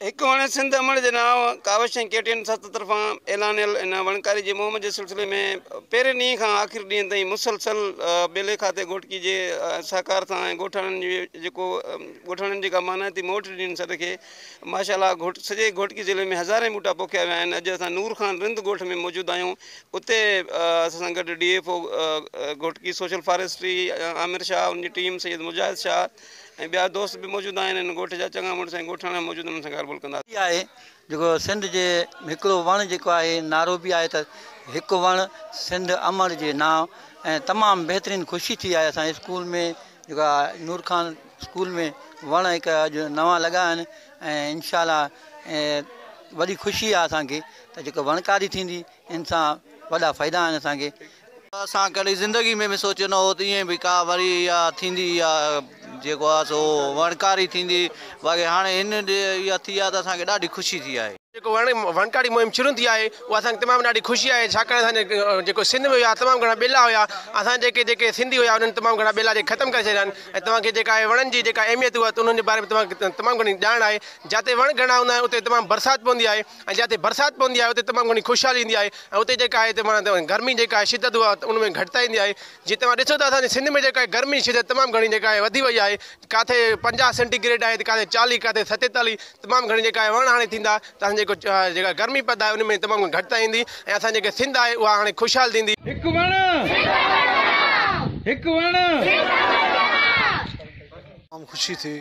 هڪ وڻ سنڌ امڙ جي نانء ڪاوش ۽ ڪي ٽي اين سٿ طرفان اعلانيل ان وڻڪاري جي مهم جي سلسلي ۾ پهرين ڏينهن کان آخر ڏينهن تائين مسلسل ٻيلي کاتي گهوٽڪي جي سهڪار سان ۽ ڳوٺاڻن جي جيڪو ڳوٺاڻن جي جيڪا مانائتي موٽ ڏني سڏ کي ماشا الله گهوٽ سڄي گهوٽڪي ضلعي ۾ هزارين ٻوٽا پوکيا ويا آهن اڄ اسان نور خان رند ڳوٺ ۾ موجود آهيون اتي اسان سان گڏ D F O Ghotki social forestry Aamir Shah ان جي ٽيم سيد مجاهد شاهه ۽ ٻيا دوست به موجود آهن هن ڳوٺ جا چڱا مڙس ۽ ڳوٺاڻا به موجود آهن انهن سان ڳالهه ٻولهه ڪنداسين. آهي جيڪو سنڌ جي هڪڙو وڻ جيڪو آهي نعرو به آهي ته هڪ وڻ سنڌ امڙ جي نانء ۽ تمام بهترين خوشي ٿي آهي اسان جي اسڪول ۾ جيڪو آهي نور خان اسڪول ۾ وڻ هڪ اڄ نوان لڳا آهن ۽ انشاء الله وڏي خوشي آهي اسان کي ته جيڪو وڻڪاري ٿيندي ان سان وڏا فائدا آهن اسان کي اسان ڪڏهن زندگي ۾ به سوچيو نه هو ته ائين به ڪا وري اها ٿيندي يا جيڪو آهي سو وڻڪاري ٿيندي باقي هاڻي هن ڏي اها ٿي آهي ته اسان کي ڏاڍي خوشي ٿي آهي. جيڪو وڻ وڻڪاري مهم شروع ٿي آهي اها اسان کي تمام ڏاڍي خوشي آهي ڇاڪاڻ اسان جي جيڪو سنڌ ۾ هيا تمام گهڻا ٻيلا هيا اسان جيڪي جيڪي سنڌي هيا انهن تمام گهڻا ٻيلا جي ختم ڪري ڇڏيا آهن ۽ توهان کي جيڪا آهي وڻن جي جيڪا اهميت هئا ته انهن جي باري ۾ توهان کي تمام گهڻي ڄاڻ آهي جاتي وڻ گهڻا هوندا آهن اتي تمام برسات پوندي آهي ۽ جتي برسات پوندي آهي اتي تمام گهڻي خوشحالي ايندي آهي ۽ اتي جيڪا آهي تمام گرمي جيڪا آهي شدت اها ان ۾ گهٽتائي ايندي آهي جي توهان ڏسو ته اسانجي سنڌ ۾ جيڪا آهي گرمي شدت تمام گهڻي جيڪا آهي وڌي وئي آهي ڪاٿي پنجاهه سينٽي گريڊ آهي ته ڪاٿي چاليهه ڪاٿي ستيتاليهه تمام گهڻي جيڪا آهي وڻ هاڻي ٿيندا ته اسان جيڪو جيڪا گرمي پد آهي ان ۾ تمام گهڻي گهٽتائي ايندي ۽ اسان جيڪا سنڌ آهي اها هاڻي خوشحال ٿيندي. هڪ وڻ هڪ وڻ. تمام خوشي ٿي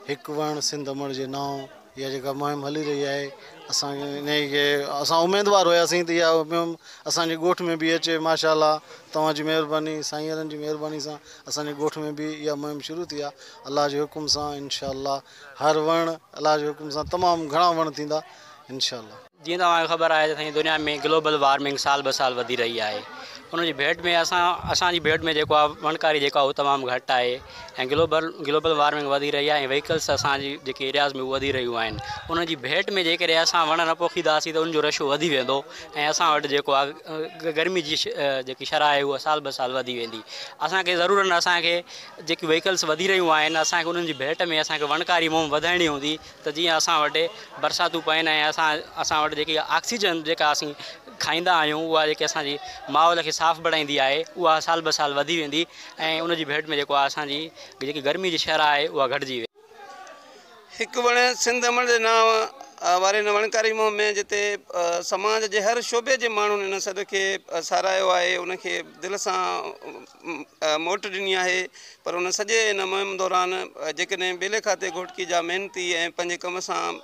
هڪ وڻ سنڌ امڙ جي نانء. اها جيڪا مهم هلي رهي آهي اسان انهي کي اسان اميدوار هياسين ته اها مهم اسان جي ڳوٺ ۾ به اچي ماشا الله توهان جي مهرباني سائينرن جي مهرباني سان اسان جي ڳوٺ ۾ به اها مهم شروع ٿي آهي الله جي حڪم سان انشاء الله هر وڻ الله جي حڪم سان تمام گهڻا وڻ ٿيندا انشاء الله. جيئن توهان کي خبر آهي ته سائين دنيا ۾ گلوبل وارمنگ سال به سال وڌي رهي آهي ان جي ڀيٽ ۾ اسان اسان جي ڀيٽ ۾ جيڪو آهي وڻڪاري جيڪو آهي اهو تمام گهٽ آهي ۽ گلوبل گلوبل وارمنگ وڌي رهي آهي ۽ ويهيڪلس اسان جي جيڪي ايرياز ۾ وڌي رهيون آهن ان جي ڀيٽ ۾ جيڪڏهن اسان وڻ نه پوکينداسين ته ان جو رشو وڌي ويندو ۽ اسان وٽ جيڪو آهي گرمي جي جيڪي شرح آهي اها سال به سال وڌي ويندي اسانکي ضرور اسانکي جيڪي ويهيڪلس وڌي رهيون آهن اسانکي انهن جي ڀيٽ ۾ اسانکي وڻڪاري مهم وڌائڻي هوندي ته جيئن اسان وٽ برساتون پين ۽ اسان اسان وٽ جيڪي آڪسيجن جيڪا اسين کائيندا آهيون اها جيڪي اسان جي ماحول کي صاف بڻائيندي آهي اها سال به سال وڌي ويندي ۽ ان جي ڀيٽ ۾ جيڪو آهي اسان جي جيڪي گرمي جي شرح آهي اها گهٽجي ويندي. هڪ وڻ سنڌ امڙ جي نانء واري هن وڻڪاري مهم ۾ جتي سماج جي هر شعبي جي ماڻهن ان سڏ کي ساراهيو آهي ان کي دل سان موٽ ڏني آهي پر ان سڄي ان مهم دوران جيڪڏهن ٻيلي کاتي گهوٽڪي جا محنتي ۽ پنهنجي ڪم سان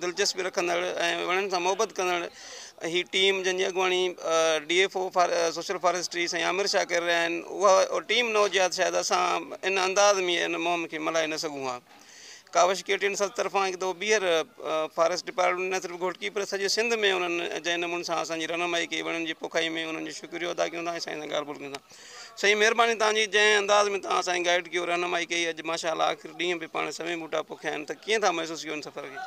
دلچسپي رکندڙ ۽ وڻن سان محبت ڪندڙ هي ٽيم جنهن جي اڳواڻي D F O social forestry سائين عامر شاهه ڪري رهيا آهن اها ٽيم نه هجي ها ته شايد اسان ان انداز ۾ ان مهم کي ملهائي نه سگهون ها ڪاوش ڪي ٽي اين سنڌ طرفان هڪ دفعو ٻيهر فاريسٽ ڊپارٽمينٽ نه صرف گهوٽڪي پر سڄي سنڌ ۾ انهن جنهن نموني سان اسانجي رهنمائي ڪئي وڻن جي پوکائي ۾ انهن جو شڪريو ادا ڪيون ٿا ۽ سائين سان ڳالهه ٻولهه ڪيون ٿا سائين مهرباني تهان جي جنهن انداز ۾ تهان اسانکي گائيڊ ڪيو رهنمائي ڪئي اڄ ماشاء الله آخر ڏينهن به پاڻ سوين ٻوٽا پوکيا آهن ته ڪيئن ٿا محسوس ڪيون سفر کي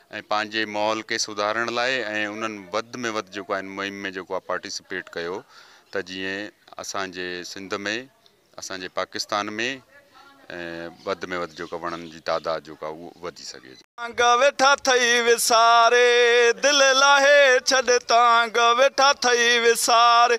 ۽ پنهنجي ماحول کي سڌارڻ لاء ۽ انهن وڌ ۾ وڌ جيڪو آهي ان مهم ۾ جيڪو آهي پارٽيسپيٽ ڪيو ته جيئن اسان جي سنڌ ۾ اسان جي پاڪستان ۾ وڌ ۾ وڌ جيڪو وڻن جي تعداد جيڪو آهي اهو وڌي سگهي. تانگ ويٺا ٿئي وساري دل لاهي ڇڏ تانگ ويٺا ٿئي وساري.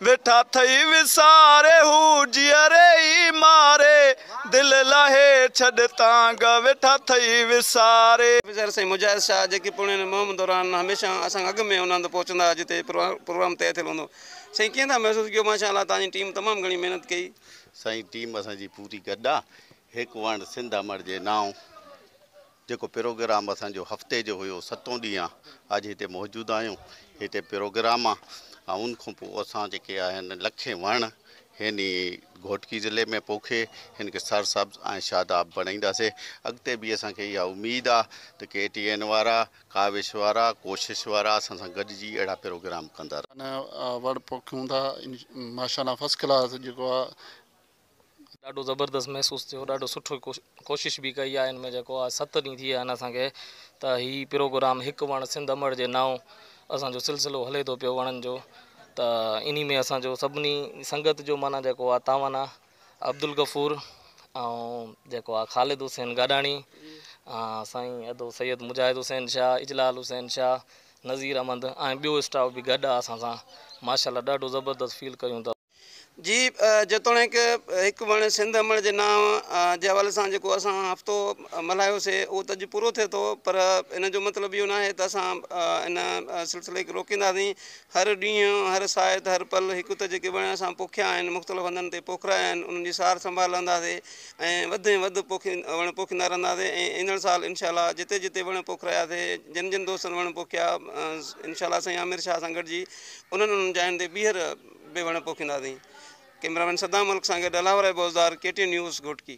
ويٺا ٿئي وساري هو جيئري ئي ماري دل لاهي ڇڏ تان گه ويٺا ٿئي وساري. آفيسر سائين مجاهد شاهه جيڪي پڻ هن مهم دوران هميشه اسان کان اڳ ۾ هوندا هئا ته پهچندا هئا جتي پروگرام طئي ٿيل هوندو هو. سائين ڪيئن ٿا محسوس ڪيو؟ ماشاء الله توهان جي ٽيم تمام گهڻي محنت ڪئي. سائين ٽيم اسان جي پوري گڏ آ هڪ وڻ سنڌ امڙ جي نانء. جيڪو پروگرام اسان جو هفتي جو هيو ستون ڏينهن آ اڄ هتي موجود آهيون هتي پروگرام آ ۽ ان کان پوء اسان جيڪي آهن لکين وڻ هن ئي گهوٽڪي ضلعي ۾ پوکي هن کي سر سبز ۽ شاداب بڻائينداسي اڳتي به اسان کي اها اميد آ ته ڪي ٽي اين وارا ڪاوش وارا ڪوشش وارا اسان سان گڏجي اهڙا پروگرام ڪندا رهن. وڻ پوکيون ٿا ماشاء الله فسٽ ڪلاس جيڪو آ. ڏاڍو زبردست محسوس ٿيو ڏاڍو سٺو ڪوشش به ڪئي آهي ان ۾ جيڪو آهي ست ڏينهن ٿي ويا آهن اسانکي ته هي پروگرام هڪ وڻ سنڌ امڙ جي نانء اسانجو سلسلو هلي ٿو پيو وڻن جو ته انهي ۾ اسانجو سڀني سنگت جو معنيٰ جيڪو آهي تعاون آهي عبدالغفور ۽ جيڪو آهي خالد حسين گاڏاڻي سائين ادو سيد مجاهد حسين شاهه اجلال حسين شاهه نظير احمد ۽ ٻيو اسٽاف به گڏ آهي اسان سان ماشاء الله ڏاڍو زبردست فيل ڪيون ٿا جي جيتوڻيڪ هڪ وڻ سنڌ امڙ جي نانء جي حوالي سان جيڪو اسان هفتو ملهايو سي اهو ته اڄ پورو ٿئي ٿو پر ان جو مطلب اهو ناهي ته اسان ان سلسلي کي روڪينداسين هر ڏينهن هر ساعت هر پل هڪ ته جيڪي وڻ اسان پوکيا آهن مختلف هنڌن تي پوکرايا آهن انهن جي سار سنڀال لهنداسي ۽ وڌ ۾ وڌ پوکي وڻ پوکيندا رهنداسي ۽ ايندڙ سال انشاء الله جتي جتي وڻ پوکراياسي جن جن دوستن وڻ پوکيا انشاء الله سائين عامر شاهه سان گڏجي انهن انهن جاين تي ٻيهر به وڻ پوکينداسين ڪئميرامين صدام ملڪ سان گڏ الاور اي Bozdar K T news Ghotki